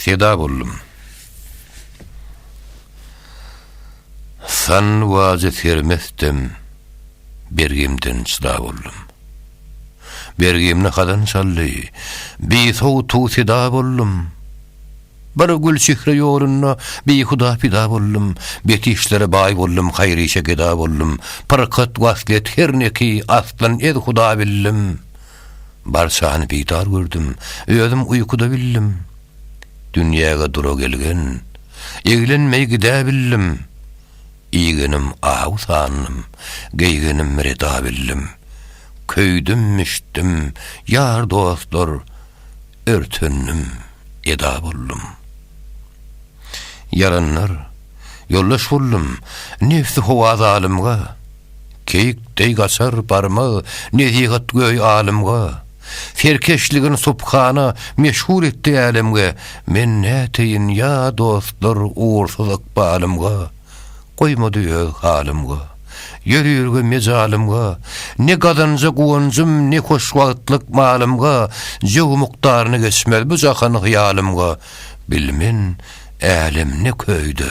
Seda boldum. San wajy sermesdim, bergimden çyda boldum. Bergimni hazan çaldy, bi sowtu seda boldum. Bir gül çihre ýolunda bi huda pida boldum, betişlere baý boldum, haýryşe geda boldum, pyrkat waslet her neki aslan ez huda bildim. Barçany bidar gördüm, özüm uýkuda bildim. Dünýäge dura gelgen, eglenmeý gidä bildim. Iýgenim aw sandym, geýgenim reda bildim. Köýdüm, müştdüm, ýar dostlar örtendim, eda boldum. Ýaranlar, ýoldaş boldum, nebsi howa zalymga. Keýik deý gaçar barmag nezihat göý alymga, Serkeşligin subhana meşhur etdi älemge, Men näteýin ýa dostlar ugursuz ykbalymga, Goýmady öz halymga, ýörürge mejalymga, Ne gazanja guwanjym ne hoş wagtlyk malymga, Jöw mukdaryny geçmez bu jahan hyýalymga, Bilmen älem ne köýde.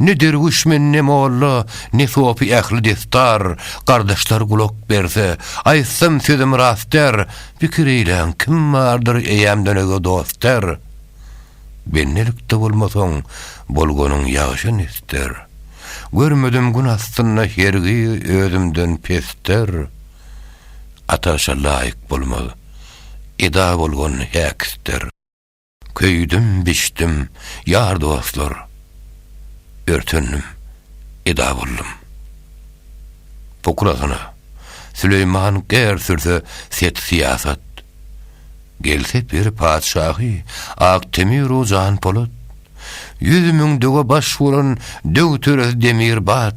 Ne derwüşmen, ne molla, ne sopy ähli destar, Gardaşlar gulak berse, aýtsam sözüm rastdar, Pikir eýläň, kim bardyr eýäm dönege dostdar? Bendelikde bolmasaň, bolganyň ýagşa nesdar, Görmedim gün astynda hergi özümden pesdar. Ataşa laýyk bolmaz, eda bolgan häkisdar. Köýdüm, biçdim, ýar-dostlar, örtendim, eda boldum. Pukrasyna, Süleýman gär sürse set-syýasat, Gelse pir patyşahy Ak Temiru Janpolat, Ýüz müň döwe baş bolan döw-töre Demirbat,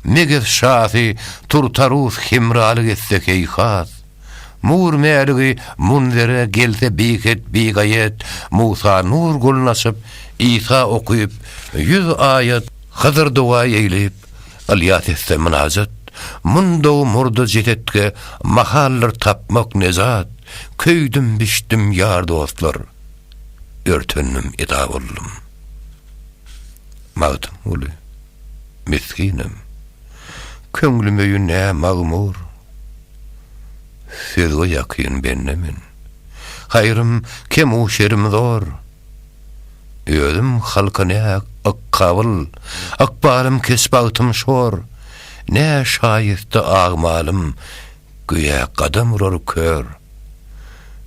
Megez şasy Turtarus hemralyk etse heýhat, Nur mäligi munzere gelse biget bigaýet Musa nur golun açyp Isa okyp ýüz aýat Hydyr doga eýlip Ylýas etse mynajat Mundaw murda jesetge mahaldyr tapmak nejat Köýdüm bişdim ýar dostlar örtendim eda boldum Magtymguly misginem köňlüm öýü nä magmur Söze ýakyn bende men. Haýrym kemu şerim zor. Özüm halka ne ykkabyl, Ykbalym kes bagtym şor. Ne şaýysta agmalym, Göýä gadam urar kör.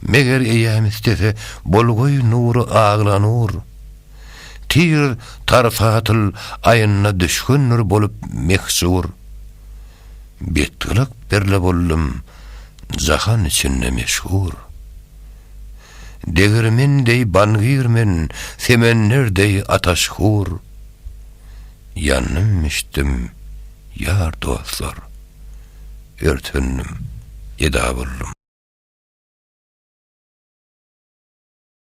Meger eýäm istese, Bolgoý nury agla nur. Tir tarsatyl aýynda Düşgündir bolup mehjur. Betgyrak derle boldum jahan içinde meşhur. Degirmen deý bangir men, semender deý ataş hur. Ýandym içdim, ýar dostlar, örtendim, geda boldum.